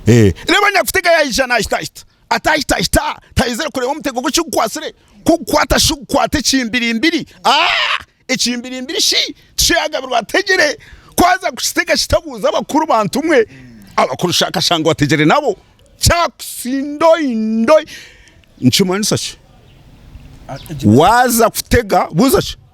Reeba nyakutega yaija naahitaahita, ataahitaahita taahenzire kureeba omutego gwe kigukwatsire, ku gukwata shi gukwata ekimbirimbiri, aah! Ekimbirimbiri shi tikyaagabirwa ategere, ku aza kukitega shi tabuuza abakuru bantu mwe, abakuru shi akashanga owategere nabo, kyakusindoindoi! Nikimanyisa ki? Waaza kutega buuza ki?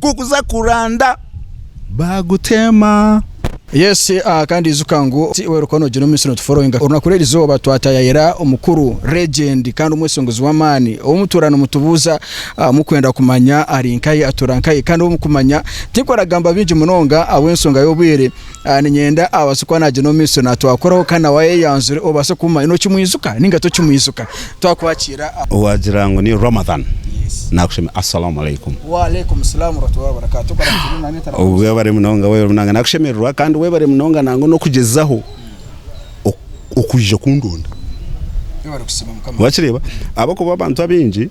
kukuza kuranda bagutema. Yes ahh kandi ijuka ngu tiwe orikuba nogira omu minsi no tu followinga orunaku rweri izooba twatayayira omukuru, legend kandi omweshingizi w'amaani ou mutuura nimutubuuza ahh mukwenda kumanya ari nkahi atuura nkahi kandi ou mukumanya tinkuragamba bingi munonga ahabw'enshonga y'obwire Niinyenda abaase kuba naagira omu maisho naatwakoraho kandi nawe ayeyanzure obaase kumumanya. Nookimwijuka nainga tokimwijuka? Twakuhakiira. Waagira ngu ni Ramadhan naakushemeza. Assalamu Alaikum. Wa Alaikum Salaam Wa Rahmatullahi Wa Barakatuh. Okora gye buri mwanya otari omu. Webare munonga, webare munonga. Naakushemererwa kandi webare munonga nangwa n'okugyezaho okwija kundonda. Webare kusiima Mukama. Wakireeba? Ahabw'okuba abantu abaingi.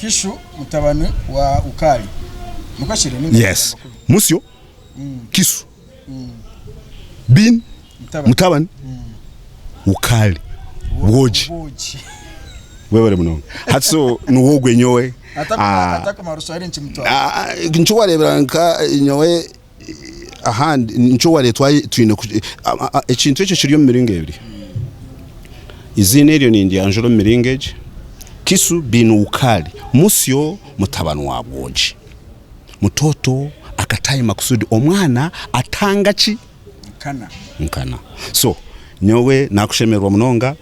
Kishu mutabani wa Ukali. Yes. Musyo, Kisu, bin mutabani Ukali, bwogi. Webare munonga. Hati so nuwe ogwe nyowe. Atakumara oshware niki mutware. Nikyo wareebera nka nyowe Ahandi nikyo ware twaye twine ekintu ekyo kiri omu miringo ebiri. Iziina eryo nindyanjura omu miringo egi, Kisu bin Wukali, Musyo mutabani wa Bwogi, Mutoto Akatai Makusudi, omwana atanga ki? Nkana. So nyowe nakushemererwa munonga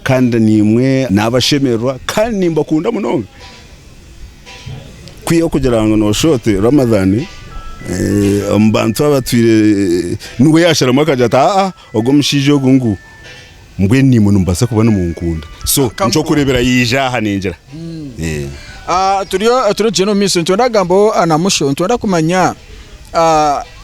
kandi nimwe nabashemererwa kandi nimbakunda munonga. kwiha okugira ngu noshusha oti Ramadhan eh, omu bantu abatwire eh, niwe yasharamu akagira ati aa ogu omushaija ogu ngu mbwenu nimwe nimubaasa kuba nimunkunda so Akamuha. nkyokureebera yaija aha ningira Eh. Ah, turiyo turigyenda omu maisho nitwenda kugambaho ah, na musho nitwenda kumanya ah,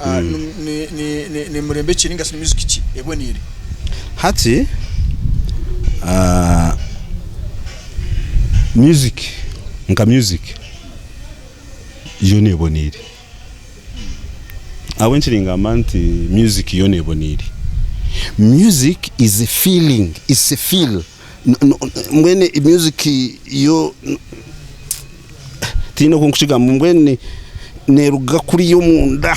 ah, mm. ni- ni- ni- ni- ni murembe ki ninga shi ni muziki ki eboniire hati ah, music nka music yoona eboniire ahabwe nkiri ngamba nti music yoona eboniire music is a feeling is a feel Mbwenu music yo tihaine oku ndikukigarukamu, mbwenu neruga kuriya omunda,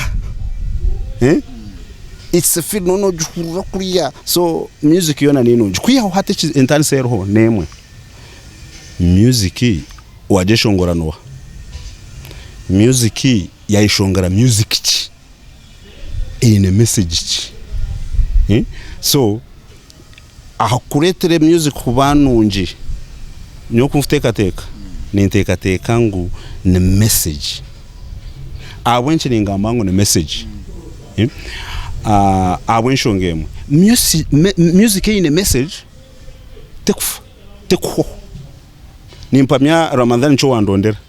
it's a feeling, noona ogihurira kuriya, so music yoona niyo nungi, kwihaho hati entarisa eriho nemwe, music wagyeshongora noha? music yayeshongora music ki? eine message ki? so. Aha kukureetera emyuzi kuba nungi, nyowe oku nkuteekateeka, ninteekateeka ngu ni mesegi. Ahabw'enki ningamba ngu ni mesegi? Ahabw'enshonga emwe, myusi myuziki eine mesegi tekufa, tekuhwaho. Nimpamya Ramadhan nikyo wandondera.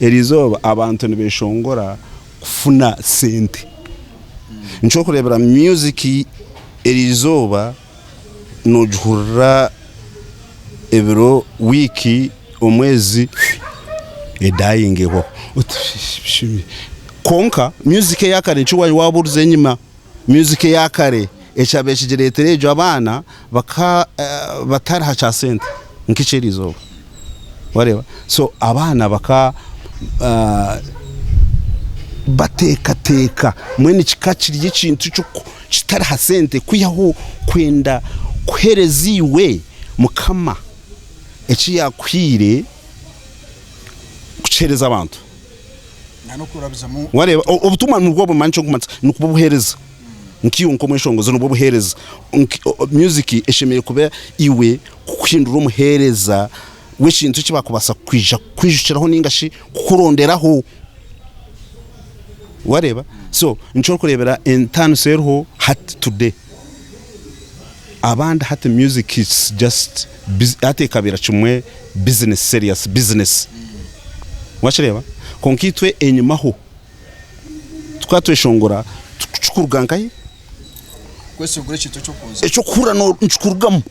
Eri izooba abantu nibeshongora kufuna sente. Nkyokurebera music eri izooba nogihurira ebiro, week, omwezi edayingeho. Kwonka music eyakare nikyo waba obuze enyima. Myuzika eya kare ekyabire kigireetera egyo abaana baka batariha kya sente nk'ekyo eri izooba wareeba so abaana baka bateekateeka mbwenu kika kiri ekintu ekiku kitariha sente kwihaho kwenda kuheereza iwe mukama eki yakuhaire kukiheereza abantu. Wareeba, obutumwa nibwo bumanya eki orikumanisa, nibwo obuheereza. Nkaiwe nk'omweshongozi nibwo buheereza. Music eshemereire kuba iwe kukuhindura omuheereza w'ekintu eki baakubaasa kwija kukwijukiraho nainga shi kukuronderaho. Wareeba? So nikyo orikureebera entaaniso eriho hati, today. abandi hati music it's just biz hati ekabira kimwe business serious business wakireba kwonka itwe enyima ho tukaba tweshongora tukikuruga nkahi kweshongora ekintu ekyokuza ekyokuhurira no nikikurugamu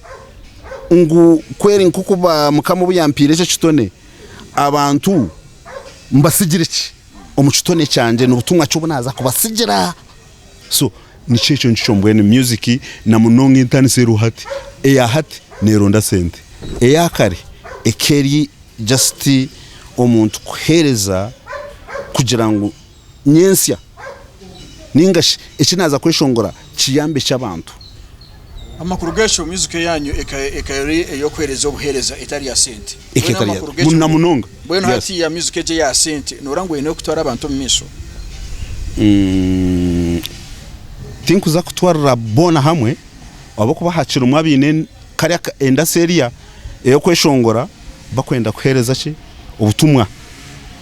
ngu kweri nkoku ba mukama obuyampire ekyo kitone abantu mbasigire ki omukitone kyangye nobutumwa ki obunaza kubasigira. So nikyo ekyo nikikyo mbwenu music na munonga entanisa eriho hati eya hati neronda sente eya kare eka eri just omuntu kuhereza kugira ngu nyentsya ningashi eki naza kweshongora kiyambe ki abantu. Amakuru g'ekyo miizico yaanyu ekaba eri ey'okuheereza obuheereza etari ya sente. Mbwenu hatiiya miizico egyo eya sente noora ngu oine kutwara abantu omu maisho? Tinkuza kutwarira boona hamwe ahabw'okuba hakirimu abaine kare endasi erya ey'okweshongora bakwenda kuheereza ki obutumwa.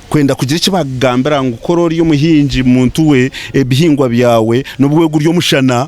Kwenda kugira eki baakugambira ngu kora ori omuhingi muntu we ebihingwa byawe nobu wegurya omushana.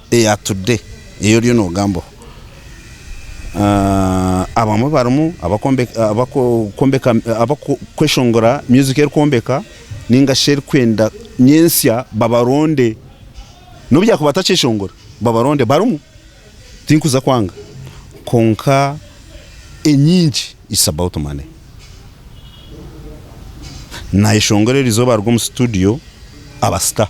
eya today ei oriyo nogambaho abamwe barimu abakweshongora music erikwombeka ninga shi erikwenda nyentsya babaronde nobu yakuba atakyeshongora babaronde barimu tinkuza kwanga kwonka enyingi it's about money nayeshongora erizooba aruga omu studio aba star.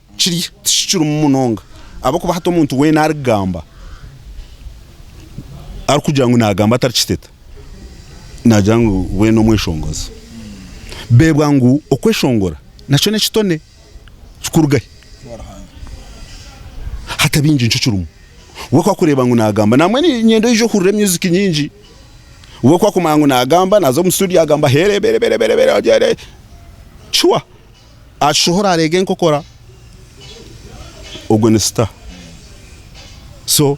Kiri tikikirimu munonga ahabw'okuba hati omuntu weena arikugamba, arikugira ngu naagamba atarikiteta, naagira ngu we n'omweshongozi. Beebwa ngu okweshongora nakyo n'ekitone kikuruga hi? Hati baingi nikyo kirimu. We ku arikureeba ngu naagamba, nambwenu niinyenda oije ohurire myuziki nyingi. We ku arikumanya ngu naagamba, naaza omu situdiyo agamba heerebere, shuwa. Ashohora areega enkokora ogwo ni star so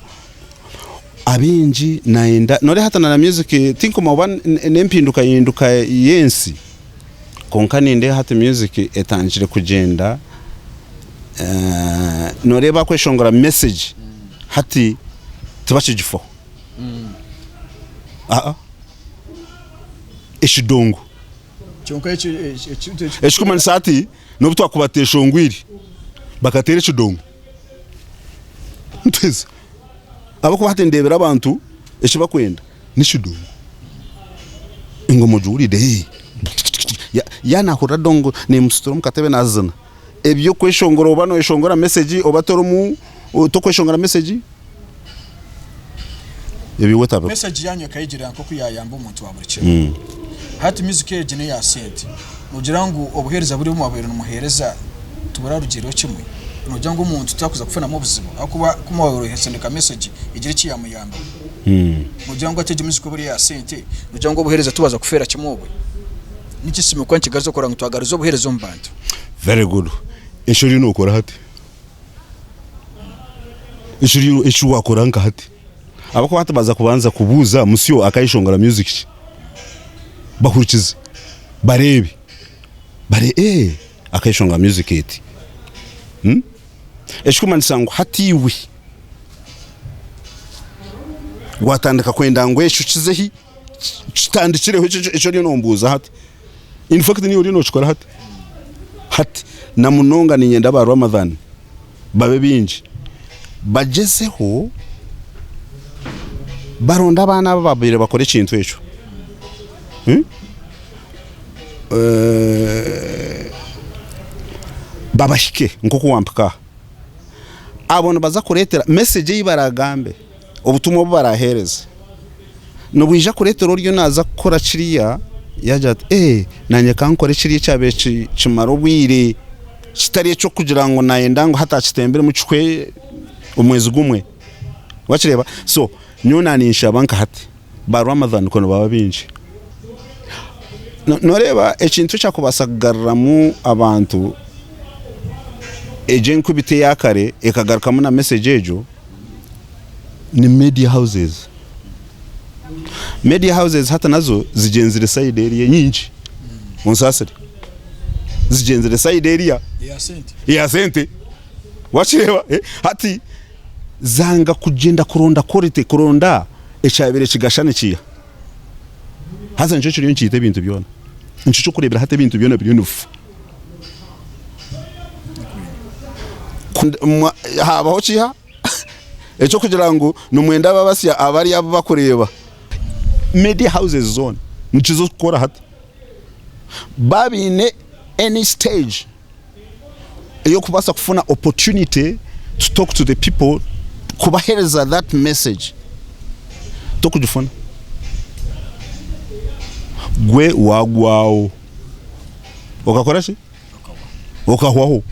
abaingi nayenda noreeba hati na music tinkumanya oba nempindukahinduka yensi kwonka nindeeba hati music etandikire kugyenda noreeba bakweshongora message hati tibakigifaho ekidongo. Ekirikumanyisa hati n'obu twakuba tuteeshongwire, bakateera ekidongo nituheza. Ahabw'okuba hati nindeebera abantu eki barikwenda n'ekidongo. Engoma ogiwureire? Tikitiki, yaaba naahurira dongo neemusituramu katebe naazina. eby'okweshongora oba noyeshongora mesegi oba torimu tokweshongora mesegi ebyo iwe otabikora. Mesegi yanyu ekayegyerera nk'oku yayamba omuntu wa buri kimwe. Hati miziki egi n'eya sente. Nogira ngu obuheereza buri obu mwabaire nimuheereza tiburarugiireho kimwe? Nogira ngu omuntu taakuza kufunamu obuzibu ahakuba ku mwabaire oine kusindika mesegi egire eki yamuyambaho? Nogira ngu hati egi miziki obu eri eya sente, nogira ngu obuheereza tibwaza kufeera kimwe obwe? Niki Simukwa nikigaruza kukora ngu twagarize obuheereza omu bantu? Very good eki oriyo nokora hati eki wakora nka hati abakuba hati baza kubanza kubuuza musyo akayeshongora music ki bahurikize bareebe bare eeh akayeshongora music eti ekikumanyisa ngu hati iwe watandika kwenda ngu ekyo kize hi. kitandikireho ekyo eki oriyo nombuuza hati in fact niiwe oriyo nokikora hati hati na munonga niinyenda ba Ramadhan babe baingi bagyezeho baronde abaana abo abaabaire bakora ekintu ekyo hmm? eh, babahike nk'oku wampika aha abo nibaza kureetera message ei baragambe Obutumwa obu baraaheereze nibwija kureetera oriyo naaza kukora kiriya yaagira ati, Ee, naanye ka nkore kiriya ekyabaire kimara obwire, kitari eky'okugira ngu naayenda ngu hati akitembiremu kihwe omwezi gumwe. Waakireeba? So nyowe naaninshaba nka hati ba Ramadhan ku nibaaba baingi. Nooreeba ekintu ekyakubaasa kugaruramu abantu egyo enkubita eya kare ekagarukamu na mesegi egyo? ni media houses. Media houses hati nazo zigyenzire side eri enyingi, munsasire, zigyenzire side eri eya sente wakireba hati zanga kugyenda kuronda quality kuronda ekyabire kigashana ekiiha haza nikyo kiriyo nikiita ebintu byona nikyo kyokureberaho hati ebintu byona biriyo nibifa. Haabaho kiha eky'okugira ngu nimwenda babasya abari abu bakureeba? Media houses zoona nikizo kukora hati. Baba baine any stage ey'okubaasa kufuna opportunity to talk to the people kubahereza that message tokugifuna. Gwe wagwaho. okakora ki okahwaho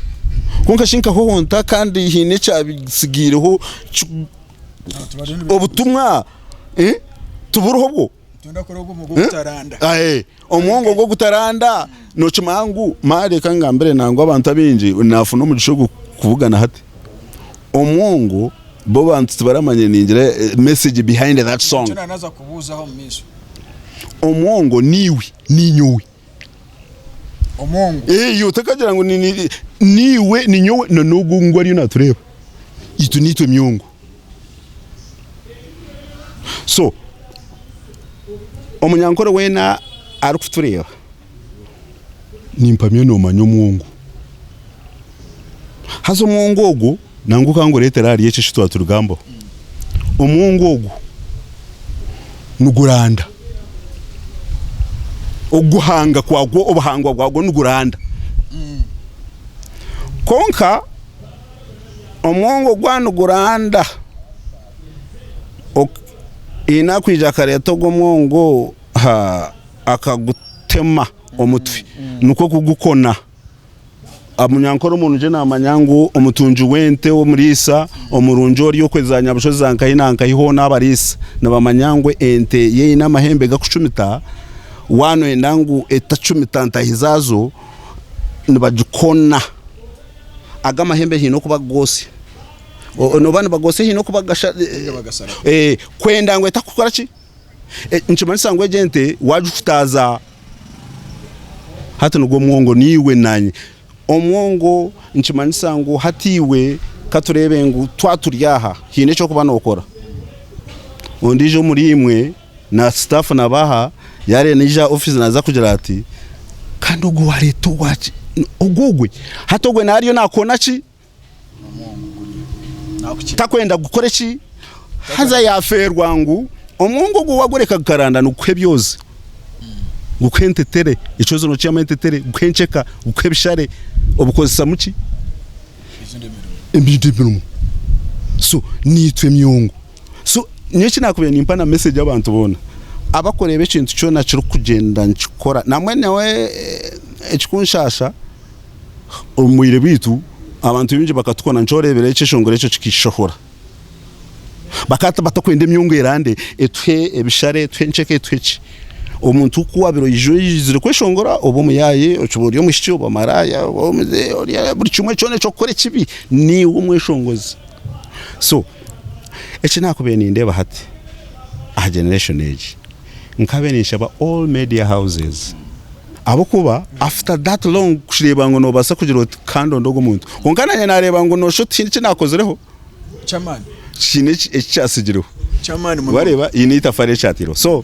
kwonka shi nkahwaho nta kandi haine ekyabitsigiireho ki- obutumwa eh, tiburiho bwo Aye, omwongo ogwo gutaranda nokimanya ngu ma reka ngambire nangwa abantu abaingi nafuna omugisha ogwo kubugana hati omwongo bo abantu tibaramanya ningira eh, message behind that song naza kubuuzaho omu maisho omwongo niiwe Ninyowe. Omongo. Eeh otakagira ngu niiwe, ninyowe na n'ogu ngu ariyo naatureeba. Itwe niitwe emyongo. So omunyankore weena arikutureeba nimpamya noomanya omwongo. Haza omwongo ogwo. Nangwa ka ngureetere ahari ekyo eki twaturigambaho. Omwongo ogu niguranda. Okuguhanga kwagwo, obuhangwa bwagwo niguranda. Kwonka omwongo gwaba niguranda, haine akwija akareeta ogwo mwongo akagutema omutwe, nikwo kugukona. Omunyankore omurungi naamanya ngu omutungi w'ente, omuriisa omurungi ori okwe za nyabushozi za nkahi na nkahi hoona abariisa nibamanya ngu ente ye eine amahembe garikucumita, waaba nooyenda ngu etacumita ntahi zaazo nibagikona. Aga amahembe haine kuba goosya oba nibagosya haine kuba kwenda ngu etakukora ki? Nikimanyisa ngu egi ente waagikutaaza hati nigwo mwongo naiwe naanye. Omwongo nikimanyisa ngu hati iwe katureebe ngu twaturi aha haine eky'okuba nookora. Ondiijo omuriimwe na sitaafu nabo aha yaareba naija aha ofiisi naaza kugira ati, kandi ogwo waareeta ogwe hati ogwe naaba ariyo naakoona ki? Takwenda kukora eki? Haza yafeerwa ngu omwongo ogwo wagureka gukaranda nigukuha ebyozi, gukuha entetere, ekyozi nokihamu entetere, gukuha enkyeka, gukuha ebishare, obukozesamu ki? Ebindi emirimo. So niitwe emyongo. So nyowe eki nakubaire nimpa na message abantu boona, abakureeba ekintu kyona kirikugyenda nikikora, nambwenu nyowe ekikunshasha. Omu bwire bwaitu, abantu baingi bakatukwana. Nikyo oreebera ekyeshongoro ekyo kikaishohora. Bakaba batakwenda emyungu erande, etuhe ebishare, etuhe enkyeka, etuhe ki. Omuntu ku waabaire oija oizire kweshongora, oba omuyaaye, okiba ori omwishiki, oba maraaya, buri kimwe kyona eky'okukora ekibi, niiwe omweshongozi. So eki naakubaire nindeeba hati aha generation egi, nkaabaire ninshaba all media houses, Ahabw'okuba after that long kureeba ngu noobaasa kugira oti kandonde ogwo muntu kwonka naanye naareeba ngu noosha oti tihaine eki naakozireho kyamaani tihaine eki eki kyatsigireho kyamaani munonga. waareeba haine eitafaari eki kyataireho so